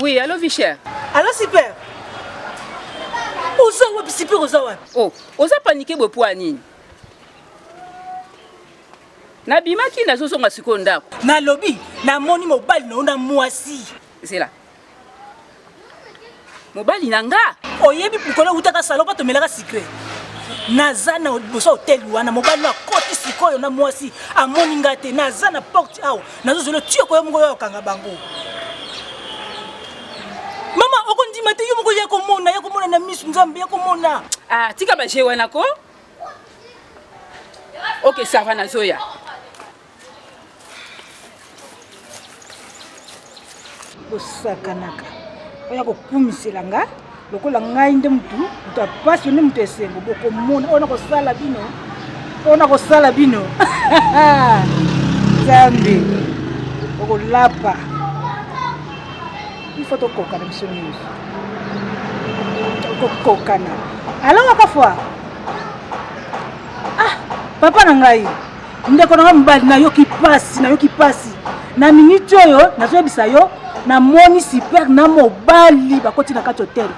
Oui, allô Vichère Allô Super Oza wapi Super oza wapi Oh, oza panike boye mpo ya nini nabimaki nazozonga sikoyo ndako nalobi namoni mobali na yo na mwasi zela mobali na nga oyebi mokolo ewutaka salon mpo tomelaka sikre naza na liboso ya hoteli wana mobali no akoti sikoyo na mwasi amoni nga te naza na porte awa nazozela tiyo koyo moko yo akanga bango mama okondima te yo moko ya komona ya komona na misu nzambe ya komona ah, tika baje wana ko ok sava nazoya kosakanaka oya kokumisela nga lokola ngai nde motu motu ya mpasi yo nde motu ya esengo bokomona oyo nakosala bino oyo nakosala bino nzambe okolapa ifo tokokana biso nyonso kokokana alongaka fwa ah papa na ngai ndeko na nga mobali nayoki mpasi nayoki mpasi na miniti oyo nazoyebisa yo namoni super na mobali bakoti na kati hotel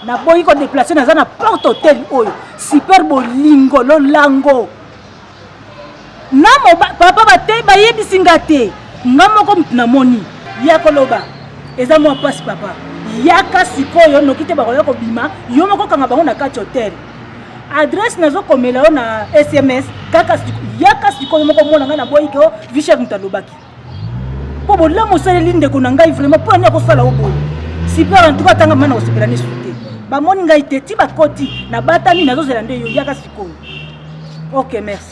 naboyi kodeplace naza na porte hotel oyo super bolingo lolango na papa bate bayebisi nga te nga moko motu namoni ya koloba eza mwa mpasi papa yaka sikoyo noki te bakoya kobima yo moko kanga bango na kati hotel adresse nazo komela yo na sms kaka yaka sikoyo moko mona ngai naboyi ke o vichel moto alobaki mpo bolamu osaleli ndeko na ngai vraiment mpo ani akosala o boye super en tout cas tanga mana kosepela nesu te bamoni ngai te ti bakoti nabatami nazozela nde yo yaka sikoyo ok merci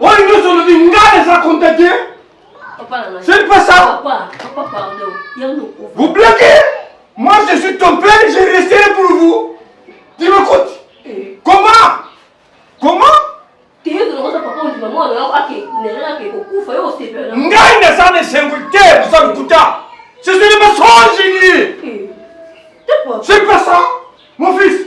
oyo nyonso olobi ngai naza contacte c'est pas ça vous bloquez moi je suis ton père je resterai pour vous tu m'écoutes eh. comment comment ngai naza na esengo te oza lokuta ce sont des mensonges eh. c'est pas ça mon fils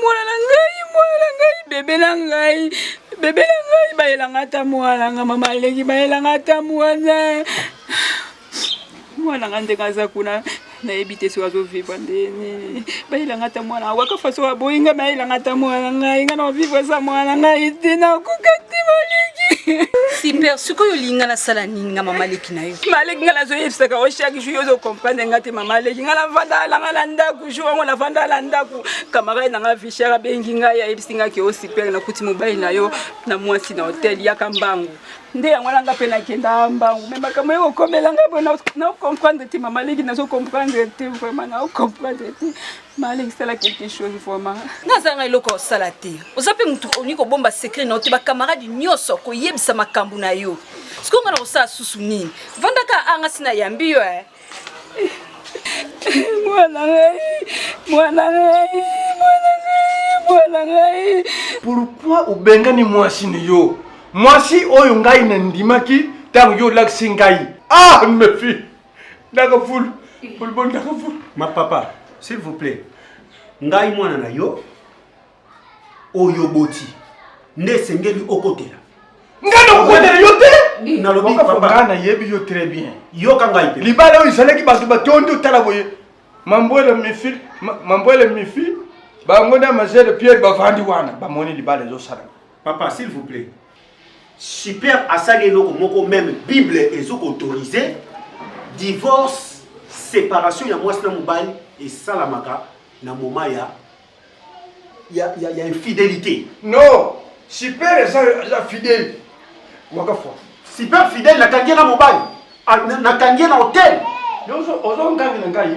mwana na ngai mwana na ngai bebe na ngai bebe na ngai bayelanga ata mwana nga mama aleki bayelanga ata mwana mwana nga ndenge aza kuna nayebi te soki azovivre nde nini bayelanga ata mwana waka faso aboyi ngai bayelanga ata mwana ngai ngai na ovivre eza mwana ngai te nakoka te maleki super sikoyo olingi ngai nasala nini nga mama aleki maleki ngai nazoyebisaka yo chaque jour ozo comprendre ngai te mama aleki ngai navandaka na ngai na ndako jour yango navandaka na ndako camarade na ngai vichar abengi ngai ayebisi ngai ke osipere nakuti mobali na yo na mwasi na hotel yaka mbangu nde yango wana nga mpe nakendaka mbangu me makambo ye kokomela ngai mpo na comprendre te mama aleki nazo comprendre te vraiment na comprendre te balekisela quelque chose vraiment nazanga eloko osala te oza mpe motu olingi kobomba secret na yo te bakamarade nyonso koyebisa makambo na yo sikoyo nga na kosala susu nini vandaka anga si nayambi yo eh. mwana ngai mwana ngai mwana ngai mwana ngai pourkui obengani mwasi na yo mwasi oyo ngai nandimaki ntango yo olakisi ngai ah mefi Ndaka ful. Ful bon ndaka ful. Ma papa, s'il vous plaît. Ngai mwana na yo oyo boti nde esengeli okotela. Ngai na okotela yo te. Nalobi papa. Ngai na yebi yo très bien. Yoka ngai te. Libala oyo ezalaki bato batondi otala boye. Mambwele mifi, mambwele mifi, bango na majele Pierre bavandi wana bamoni libala ezosalama. Papa, s'il vous plaît. Super asali eloko moko meme bible ezo autoriser divorce separation ya mwasi na mobali esalamaka na moment ya ya, ya, ya infidelité non super eza eza fidèle mwaka fois super fidèle nakangi ye na mobali nakangi ye na hotel ozo ngangi na ngai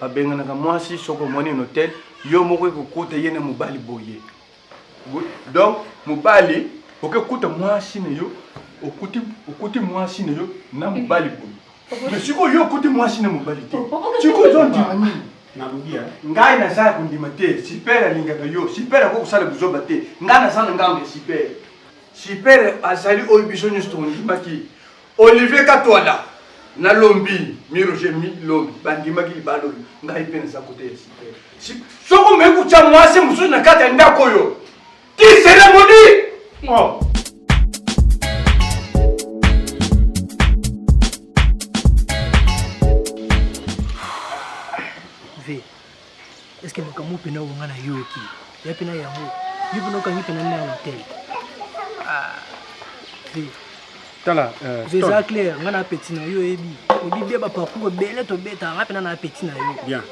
babenganaka mwasi soki omoni na hotel yo moko ekokuta ye na mobali boye donc mobali okekuta mwasi na yo okuti, okuti mwasi na yo na mobali boye me sikoyo yo okuti mwasi na mobali te sikoyo ezondima nini nalobi ngai naza ya kondima te sipere alingaka yo sipere akoki kosala buzoba te ngai naza na ngambo ya sipere sipere azali oyo biso nyonso tokondimaki Olivier Katwala na Lombi mi Roger mi Lombi bandimaki libala oyo ngai mpe naza kote ya site. Soko me kutya mwasi mosusu na kati ya ndako oyo ti seremoni oh. Est-ce que makambo pena wonga na yo ki? Ya pena yango. Yo pena okangi pena na hotel. Ah. Ve. Tala, euh, Ve ça clair, nga na petit na yo ebi. Obi bia ba parcours bele to beta, nga pena na petit na yo. Bien.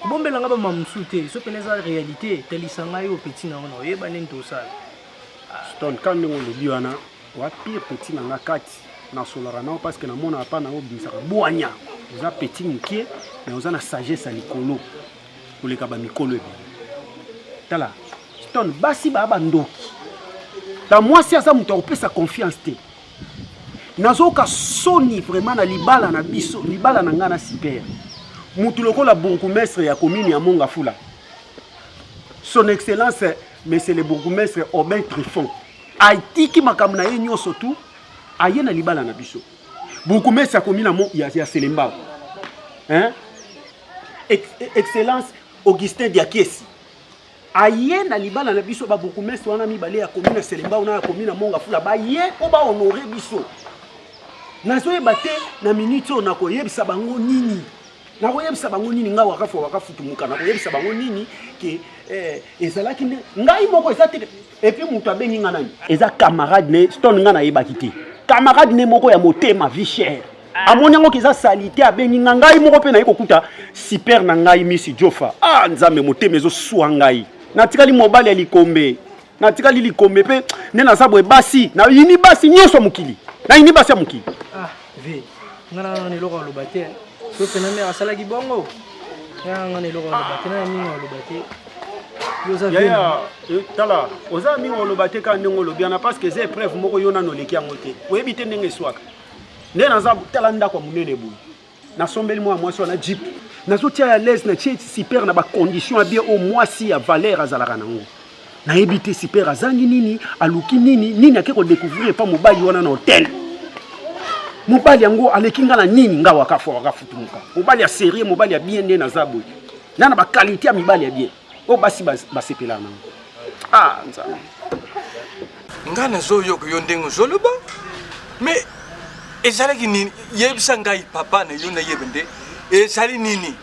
Bombela nga ba mamsu te, so pena eza réalité, talisa nga yo petit na yo na oyeba nini tosala. Stone, quand on le dit, wa pire petit na nga kati nasolaka nao parce que namonaka mpa nango obimisaka bwanya oza petit mokie me oza na sagesse ya likolo koleka bamikolo ebele tala stone basi baa bandoki ta mwasi aza moto ya kopesa confiance te nazoyoka soni vraiment na libala na biso libala na ngai na super motu lokola bourgoumestre ya komini ya mongafula son excellence monsieur le bourgoumestre aubin trifon Atiki makambo na ye nyonso tu aye na libala na biso. Bourgmestre akomi na mo ya, ya Selembao. Hein? Ex, excellence Augustin Diakesi aye na libala na biso ba bourgmestre wana mibale ya commune ya Selembao na ya commune ya Monga Fula baye mpo ba honore biso. Nazoyeba te na minute oyo nakoyebisa bango nini nakoyebisa bango nini ngai wakafu wakafutumuka nakoyebisa bango nini ke eh, ezalaki nde ngai moko eza te Et puis mutu abengi nga nani? Eza camarade ne stone nga nayebaki te. Camarade ne moko ya motema vie chère. Ah. amoni yango kiza salite abengi nga ngai moko mpe naye kokuta super na ngai misi jofa ah nzambe motema ezosua ngai natikali mobali ya likombe natikali likombe mpe nde naza boye basi nayini basi nyonso ya mokili nayini basi ya mokili ah. ve nga na nana eloko aloba te so pena mère asalaki bongo nga nga na eloko aloba te na mingi aloba te yaya eh, tala oza mingi oloba te kaka ndenge olobi wana parce que eza épreuve moko yo nano oleki yango te oyebi te ndenge eswaka nde naza tala ndako ya monene boye nasombeli mwa mwasi wana jip nazotia ya lese natie super na bacondition ya bie oyo mwasi ya valeur azalaka nango nayebi te super azangi nini aluki nini nini ake kodecouvrir epa mobali wana na hotel mobali yango aleki nga na nini nga wakafa wakafutumuka mobali ya serie mobali ya bien nde naza boye na na bakalite ya mibali ya bien oyo basi basepela nango ah nzambe nga nazoyoka yo ndenge ozoloba mais ezalaki nini yebisa ngai papa na yo nayebe nde ezali nini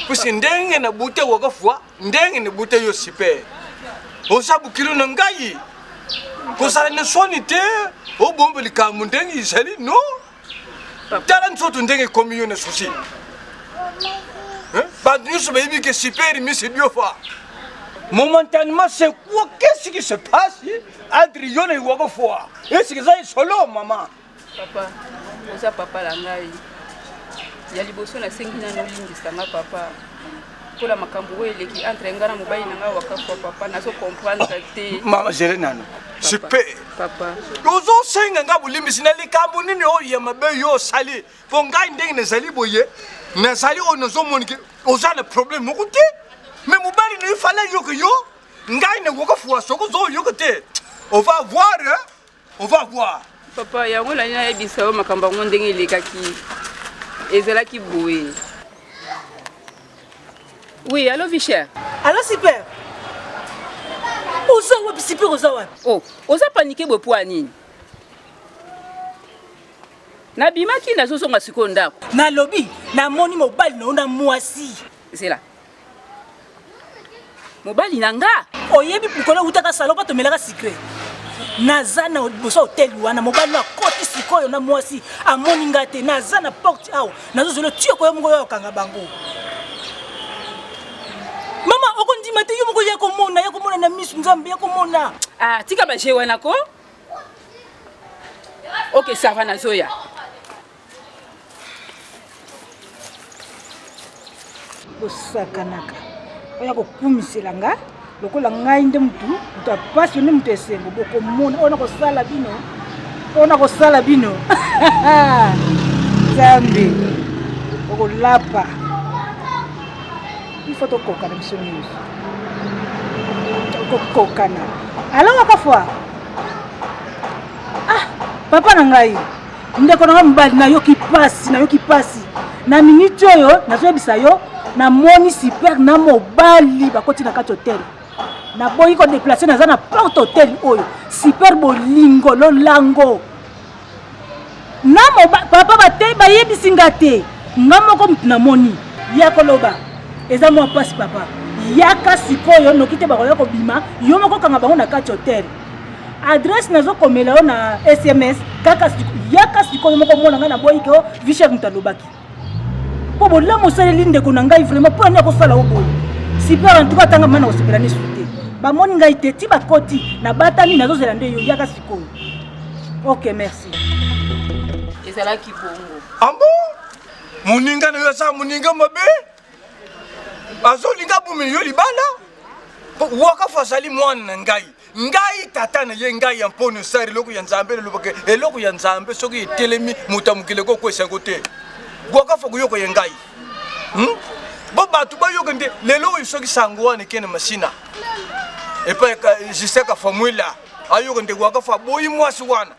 pusi ndenge na bute wakafua Ndenge ne bute yo super. Oza bukilo na ngai. Kozala na soni te, obombe likambo ndenge izali no. Tala nzoto ndenge ekomi yo na susi. Bato nyonso bayebi ke super misi diofa. Momentanément, c'est quoi Qu'est-ce qui se passe Adriano Iwagofoa. Est-ce que ça est solo, maman Papa, oza papa la ngai. Ya liboso na sengi na nolimbisa nga papa. Pola makambo oyo eleki entre nga na mobali na nga wakafwa papa nazo comprendre te. Mama gere nano. Super. Papa. Ozo senga nga bolimbisi na likambo nini oyo ya mabe yo osali? Po ngai ndenge nazali boye, nazali oyo nazo monike oza na problème moko te. Mais mobali na yo fala yoka yo, ngai na wakafwa soko zo yoka te. On va voir hein? on va voir papa yango nani nayebisa yo makambo yango ndenge elekaki ezalaki boye oui allo vicher allo super oza wapi super oza wapi o oh, oza panike boye mpo ya nini nabimaki nazozonga sikoyo ndako nalobi namoni mobali na yo na mwasi zela mobali na nga oyebi pukolo utaka salo mpo tomelaka sikre naza na liboso hoteli wana mobali akoti sikoyo na mwasi amoni nga te naza na porte awa nazozolo tiyo koyo moko yo okanga bango mama okondima te yo moko ya komona ya komona na misu nzambe ya komona ah, tika baje wana ko ok sava nazoya kosakanaka oya kokumisela nga lokola ngai nde motu motu ya mpasi nde motu ya esengo bokomona oyo nakosala bino oyo nakosala bino nzambe okolapa ifo tokokana biso nyonso kokokana alongaka fwa ah papa na ngai ndeko na nga mobali nayoki mpasi nayoki mpasi na miniti oyo nazoyebisa yo namoni super na mobali bakoti na kati hotel naboyi kodeplace naza na porte hotel oyo super bolingo lolango na papa bate bayebisi nga te nga moko motu namoni ya koloba eza mwa mpasi papa yaka sikoyo noki te bakoya kobima yo moko kanga bango na kati hotel adresse nazo komela yo na sms kaka yaka sikoyo moko mona ngai naboyi ke o vichek moto alobaki mpo bolamu osaleli ndeko na ngai vraiment mpo ani akosala o boye super en tout cas tanga mana kosepela nesu te bamoni ngai te ti bakoti nabatami nazozela nde yo yaka sikoyo ok merci ezalaki bongo ambo ah moninga na yo aza moninga mabe azolinga abomeli yo libanda mpo wakafu azali mwana na ngai ngai tata na ye ngai ya mponi osali eloko ya nzambe elobaka eloko ya nzambe soki etelemi moto ya mokili ekokwesa yango te wakafu akoyoka ye ngai hmm? bo bato bayoka nde lelo oyo soki sango wana ekende masina epai justin kafamuila ayoka nde wakafu aboyi mwasi wana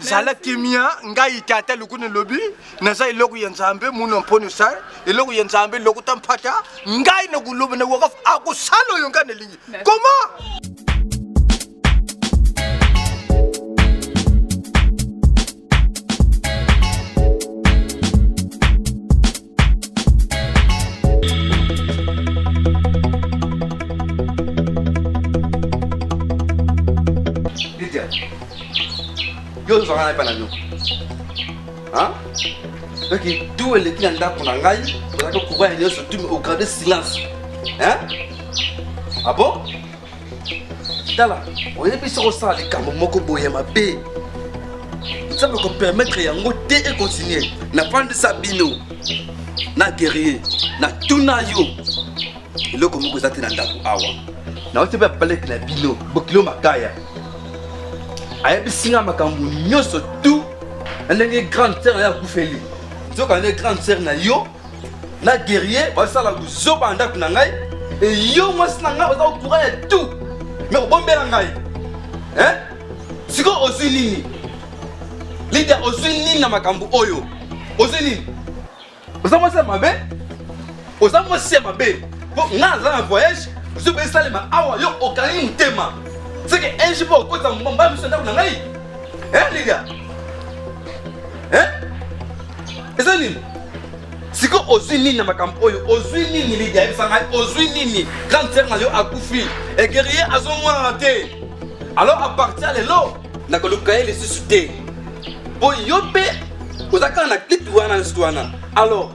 zala kimia ngai tata lokuni lobi naza eloko ya nzambe muna mponi sar eloko ya nzambe lokuta mpata ngai na koloba na wakaf akosala oyo ngai nalingi koma yo ozwaka na epai na bino donc tu eleki na ndako na ngai ozalaki kokuba ya nyonso tu ograde silence ah bon tala oyebisi kosala likambo moko boye mabe nzambe kopermettre yango te ekontinue nafandisa bino na guerrier natuna yo eloko moko eza te na ndako awa nauti mpe palete na bino bokilo makaya ayebisi nga makambo nyonso tu na ndenge grande sere ya kufeli nzoka nde grande sere na yo na guerrier bazosala buzoba na ndako na ngai eyo mwasi na ngai oza kokura ya tout me kobombela ngai sikoyo ozwi nini lidia ozwi nini na makambo oyo ozwi nini oza mwasi ya mabe oza mwasi ya mabe mpo ngai naza na voyage ozwi mpe esalema awa yo okangi motema seke enge mpo okotisa mbala miso ndako na ngai lidia eza nini siko ozwi nini na makambo oyo ozwi nini lidia yebisa ngai ozwi nini grande sere na yo akufi egerie azomonana te alors apartir ya lelo nakoluka ye lisusu te mpo yo mpe oza kaka na clip wana lisusu wana alors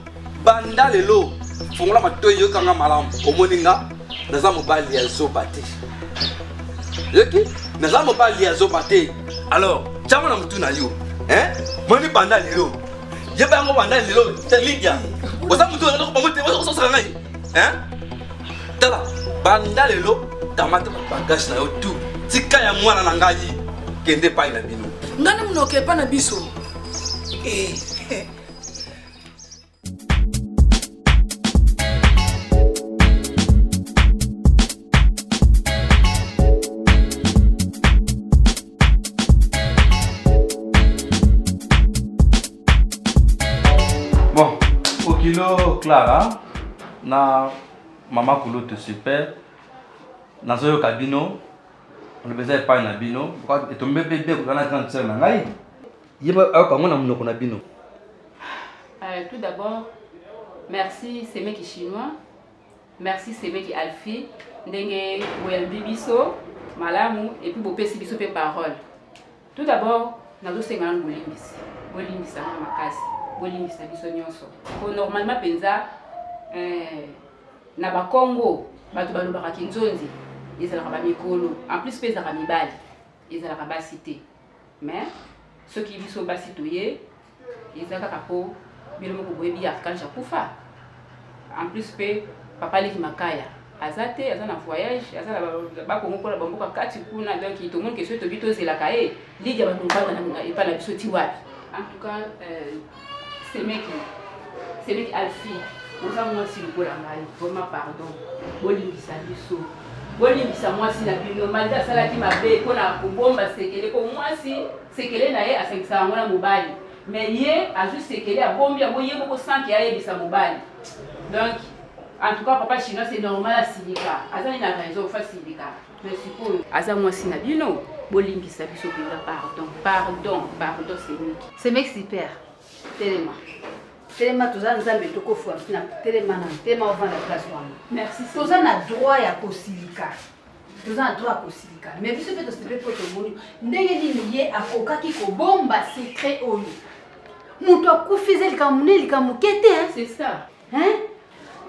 banda lelo fongola matoi yokanga malamu omoni nga naza mobali ya zoba te yoki naza mobali ya zoba te alors tyama na motu na yo moni banda lelo yeba yango banda lelo te lidia oza motu bango te ososaka ngai tala banda lelo kamata bagage na yo tu tika ya mwana na ngai kende epai na bino ngai na monoko epai na biso eh. kilo clara na mama kulutu super nazoyoka bino olobeza epai na bino etombe mpe bien kozala na grande sœur na ngai yeba ayoka yango na monoko na bino euh, tout d'abord merci semeki chinois merci semeki alfi ndenge boyambi biso malamu epuis bopesi biso mpe parole tout d'abord nazosenga nanu bolimbisi bolimbisa nga makasi bolimbisa biso nyonso po normalement mpenza eh, na bakongo bato balobaka kinzonzi ezalaka bamikolo en plus mpe ezalaka mibali ezalaka basi te mais soki biso basi toye eza kaka mpo bino moko boyebi ya archange akufa en plus mpe papa leki makaya aza te aza na voyage aza na bakongo mpo na bamboka kati kuna donc tomoni kesoi tobi tozelaka ye lidia bakobanga na epai na biso ti wapi en tout cas euh, semeki semeki alfi oza mwasi lokola ngai vraiment pardon bolimbisa biso bolimbisa mwasi na bino maldi asalaki mabe mpo na kobomba sekele mpo mwasi sekele na ye asangisa yango na mobali me ye azwi sekele abombi yango ye moko sanke ayebisa mobali donc en tout cas papa chinois c'est normal asilika azali na raison fa silika mais sikoyo aza mwasi na bino bolimbisa biso mpenza pardon pardon pardon semeki semeki super telema telema toza nzambe tokofua na telema na telema ovanda place wana merci toza na droit ya kosilika toza na droit ya kosilika me biso mpe tosilipe mpo tomoni ndenge nini ye akokaki kobomba secret oyo moto akufi eza likambo ne likambo moke te hein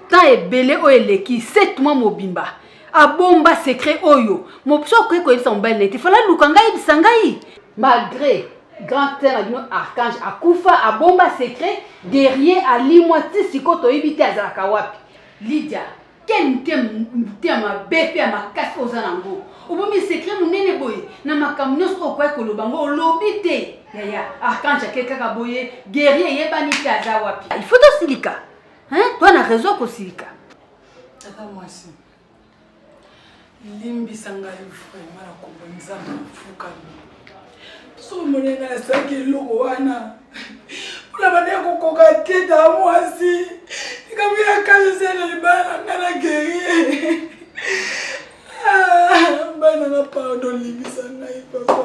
temps ebele oyo eleki 7 mois mobimba abomba secret oyo mobiso akoki koyebisa mobali na ye te fala luka ngai yebisa ngai malgré grand frère na bino archange akufa abomba secret guerrier alimwa ti sikoyo toyebi te azalaka wapi lydia Quel moto ya mabe mpe ya makasi oza na yango obomi secret monene boye na makambo nyonso oyo okoki koloba yango olobi te yaya archange ake kaka boye guerrier eyebani te aza wapi il faut tosilika toa na raison kosilika tata mwasi limbisa ngai vraiment na kombo nzambe nafukami so omoneli ngai nasalaki eloko wana mpona bande kokoka te ta mwasi likambo ya kasi ezali libala na ngai na gerie ah, bana na pardon limbisa ngai papa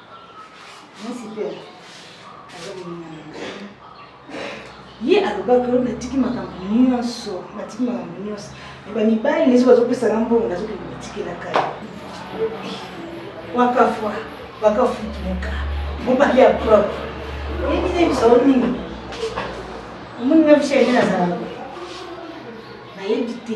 ye alobaki oyo natiki makambo nyonso natiki makambo nyonso eba mibali neso bazopesa na mbongo nazokende kotikelaka ye wakafwa wakafutumuka mobali ya propre oyebi na biso o nini omoni na biso yende nazalaka nayebi te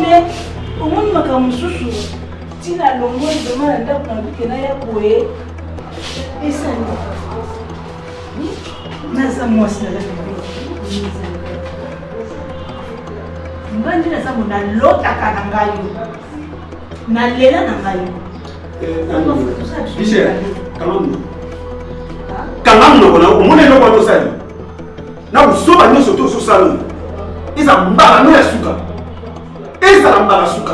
mais omoni makambo mosusu ntina alongoli vrema na ndako na luke na ya boye esani naza mwasi naza nga nde naza mo nalotaka na ngai nalela na ngai michel kalongi kalongi lokona omona eloko wana osali na buzoba nyonso to ozosala oyo eza mbala no ya suka ezala mbala suka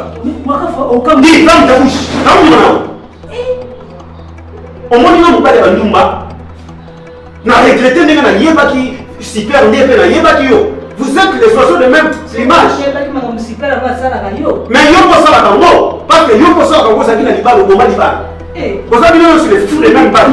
omoni nga mobali ya bandumba na regrete ndenge nayebaki super nde mpe nayebaki yo vous êtes les oiseaux de même image mais yo kosalaka ngo parce que yo kosalaka ngo ozalaki na libala oboma libala eh. oza bino nyonso les fou de même bale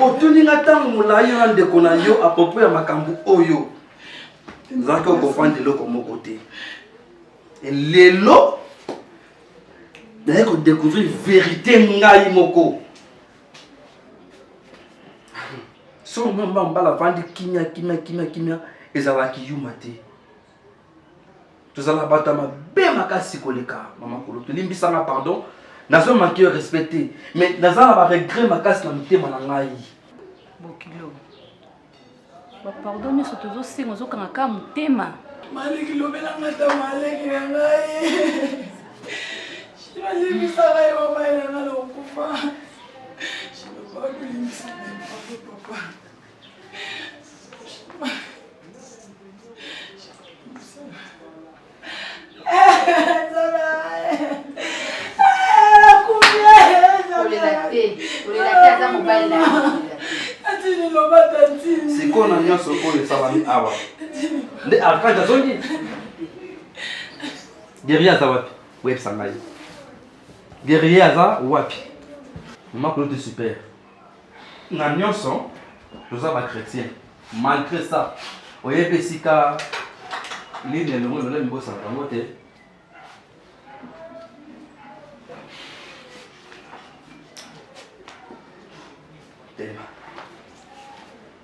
otuni nga ntango molai yo na ndeko na yo apropo ya makambo oyo nazalaki okofanda eloko moko te lelo naye kodecouvrir verité ngai moko soki mama mbala avandi kimia kimia kimia kimia ezalaki yuma te tozalaka bato ya mabe makasi koleka mama kolo tolimbisanga pardon nazo manke yo respect te mais naza na baregret makasi na motema na ngai bokilo bapardon nyonso tozosenga ozokanga ka motema maleki lobelanga ta maleki na ngai shibalimbisaka ye mama elanga na okufa shibapakolimbisa papa sikoyo na nyonso oyo esalami awa nde archange azongi guerrier aza wapi oyebisa ngai guerrier aza wapi mama kuloti super na nyonso toza bachrétien malgré ça oyebi esika lini elongo elongo mibosanaka yango te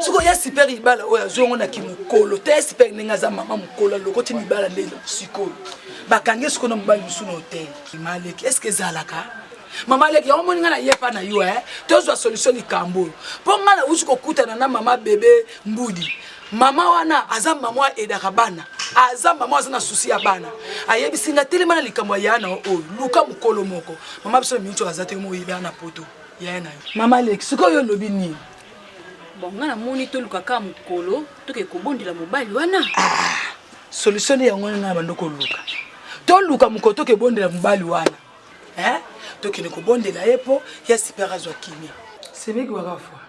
soko ya super libala oyo azwi yango na kimokolo te ya super ndenge aza mama mokolo alokoti libala nde sikoyo bakangi sikoyo na mobali mosusu na hotel maleki estce ezalaka mama aleki yango omoni ngai na ye epa na yo e tozwa solution likambo oyo mpo ngai nauti kokutana na mama bebe mbudi mama wana aza mama aidaka bana aza mama aza na susi ya bana ayebisi ngai telema na likambo ya yana oyo luka mokolo moko mama biso na minuti aza te moyebaa na poto yaya na yo mama leki sikoyo olobi nini bon nga namoni toluka kaka mokolo toke kobondela mobali wana ah, solution nde yango ngai bando koluka toluka mokolo toke bondela mobali wana eh? tokende kobondela ye mpo ya sipere azwa kimia sebeki waka fwa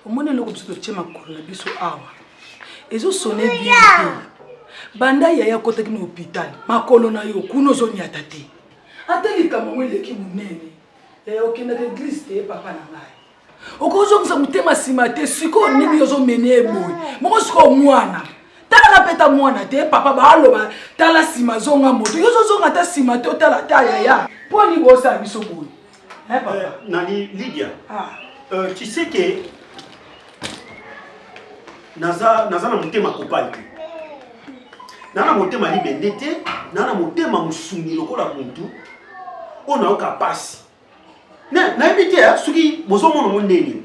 omoni eloko biso totye makolo na biso awa ezosone bien te banda yaya akotaki na hôpital makolo na yo kuna ozonyata te ata likambo yango eleki monene Eh, okendaka eglise te papa na ngai okozongisa motema nsima te sikoyo nini ozomene ye boye moko sikoyo mwana talaka mpe ta mwana te papa baaloba tala nsima zonga moto yo ozozonga ata nsima te otala ta yaya mpo ani bosala biso boye eh, eh, nani lidia ah. euh, tu sais ke naza na motema kopali te na na motema libende te na na motema mosungi lokola muntu oyo nayoka mpasi nayebi te eh, soki bozomona ngo ndeni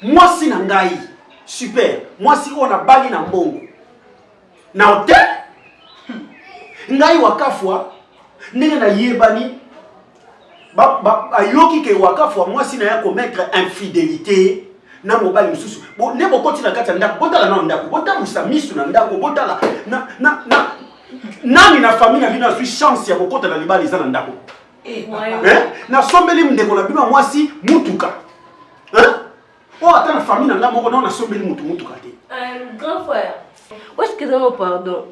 mwasi na ngai super mwasi oyo nabali na mbongo na hotel ngai wakafwa ndenge nayebani ba, ba, ayoki ke wakafu ya mwasi na ye akometre infidelité na mobali mosusu nde bokoti na kati ya ndako botala nao ndako botambusa misu na ndako botala na, na, na, nani na famille na bino azwi chance ya kokota na libala eza na ndako eh, eh? nasombeli ndeko na bino ya mwasi mutuka eh? Oh, ata na famille na nga moko nao nasombeli motu motuka te euh, grand frère oeskizango pardon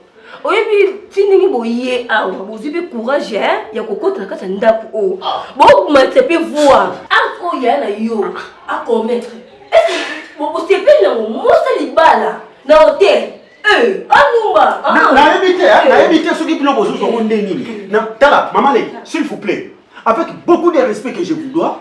oyebi ti ndenge boye awa bozwi mpe courage eh, ya kokota na kati ya ndako oyo oh. bomatisa mpe voir arte oyo ya na yo acommettre bosepeli nango mosa libala na hotel eh, anumba ah. nayebi te eh, nayebi te soki bino bozuzu yango nde nini tala mama leki s'il vous plaît avec beaucoup de respect que je vous dois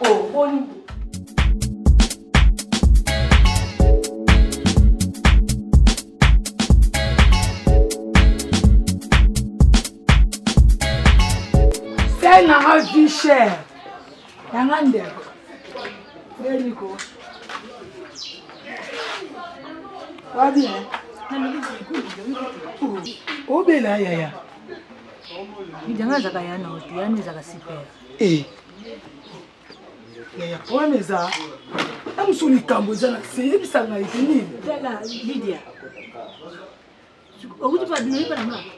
Oh, boni Sel nanga vie chère. Nanga ndeko. Eliko. Wa bien. Obela yaya. Idanga zaka yana otu yana zaka super. Eh. yaya problème eza na mosusu likambo eza na se yebisa ngai te nini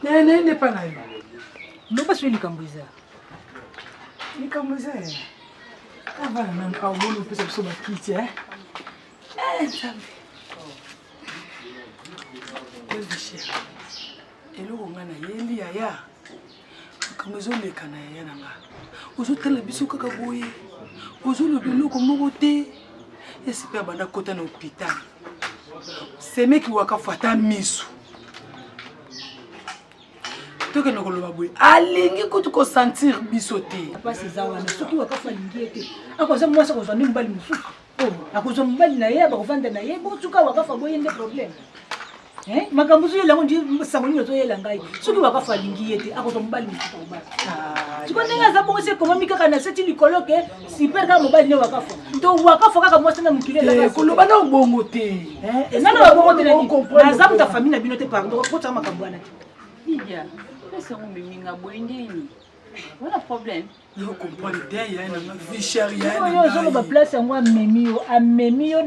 nene epa na yo loba soki likambo eza likambo eza yaya avana nanu aoboni opesa biso bakiti e eh, nzambe eloko ngai nayeli yaya makambo ezoleka na yaya na nga ozotala biso kaka boye ozoloba eloko moko te esipe abanda kota na hopital semeki wakafu ata miso tokende koloba boye alingi kutu kosentir biso te basi eza wana soki wakafu alingi ye te akoza mwasi akozwa nde mobali mosusu oh, akozwa mobali na ye bakofanda na ye botuka wakafu aboye nde probleme Eh, makambo ozoyela yango ndi sango nini ozoyela ngai soki wakafu alingi ye te akozwa mobali mosusu kobala ah, siko ndenge aza bongo se ekomami kaka na seti likolo ke super kaka mobali ne wakafu to wakafu kaka mwasi na mokili eh, koloba na obongo te eh, nano babongo te naza moto ya famille na bino te pardon okotaka makambo wana te ozoloba place yango amemi yo amemi yo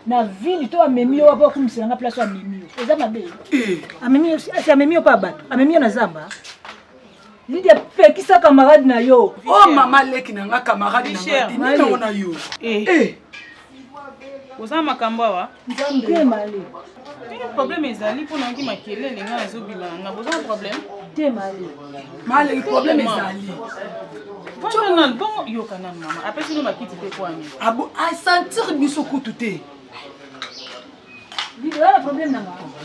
na ville to amemi yo wapo akumisela nga place amemi yo eza mabe eh. amemi yo asi amemi yo mpe bato amemi yo na zamba lidi apekisa camarade na yo o oh, mama leki na nga camarade na nga nini na yo eh. Eh. oza makambo awa eh, problème ezali mpo nangi makelele ngai azobima na boza na problème te mali mali problème ezali fana bongo yoka nanu mama apesi no bakiti te kwani asentir ah biso kutu te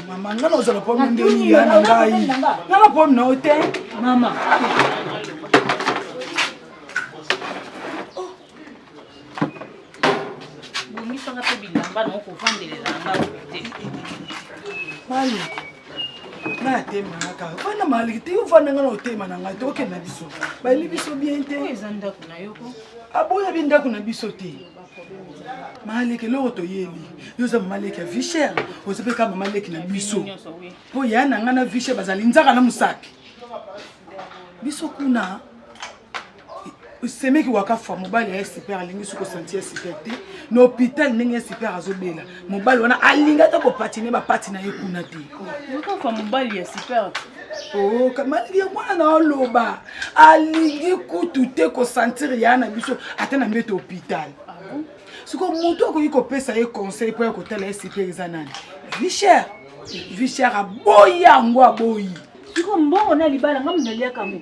mama nga nazala pomi ndeni ya na ngai nga na pomi na yo te mama bomisanga mpe bilamba nango kovandelela nga te mali natemaka wana maliki te ofanda nga na otema na ngai te okende na biso bayeli biso bien te eza ndako na yoko aboya bi ndako na biso te maleki eloko toyebi yo oza mamaleki ya vicher oza mpe kaka mamaleki na biso mpo ya na ngai na vicher bazali nzaka na mosaki biso kuna semeki waka fa mobali ya super alingi soki osanti ya super te na hôpital ndenge ya super azobela mobali wana alingi ata kopatine bapati na ye kuna te okafa mobali ya super oh, maliki ya mwana na oloba alingi kutu te kosantire ya na biso ata na mbete hôpital ah sikoyo motu akoki kopesa ye conseil mpo ya kotala ye super eza nani vicher vicher aboyi yango aboyi sikoyo mbongo na libala nga mnaliaka ngo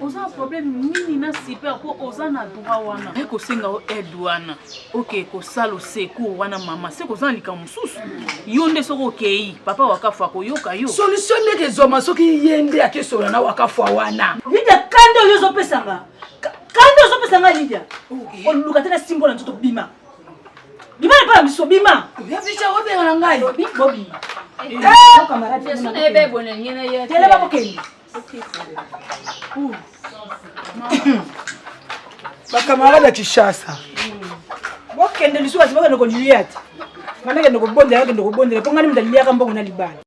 oza na problème nini na super mpo oza na droit wana ye kosenga yo aide wana oke kosala osecour wana mama se koza na likambo mosusu yo nde soki okei papa wakafu akoyoka yo solution ndeke ezwama soki ye nde akesola na wakafu wana lidia kanda oyo ozopesanga kanda ozopesa nga lidia oluka te na simbo na nzoto bima bima epa na biso bima oya bica obengana ngai bobi bobi eh, eh, eh, telema kokende bakamarade ya kinshasa bokende lisusu basi bokende kolilia te ngai nakende kobondela nakende kobondela mpo ngai nde moto aliliaka mbongo na libala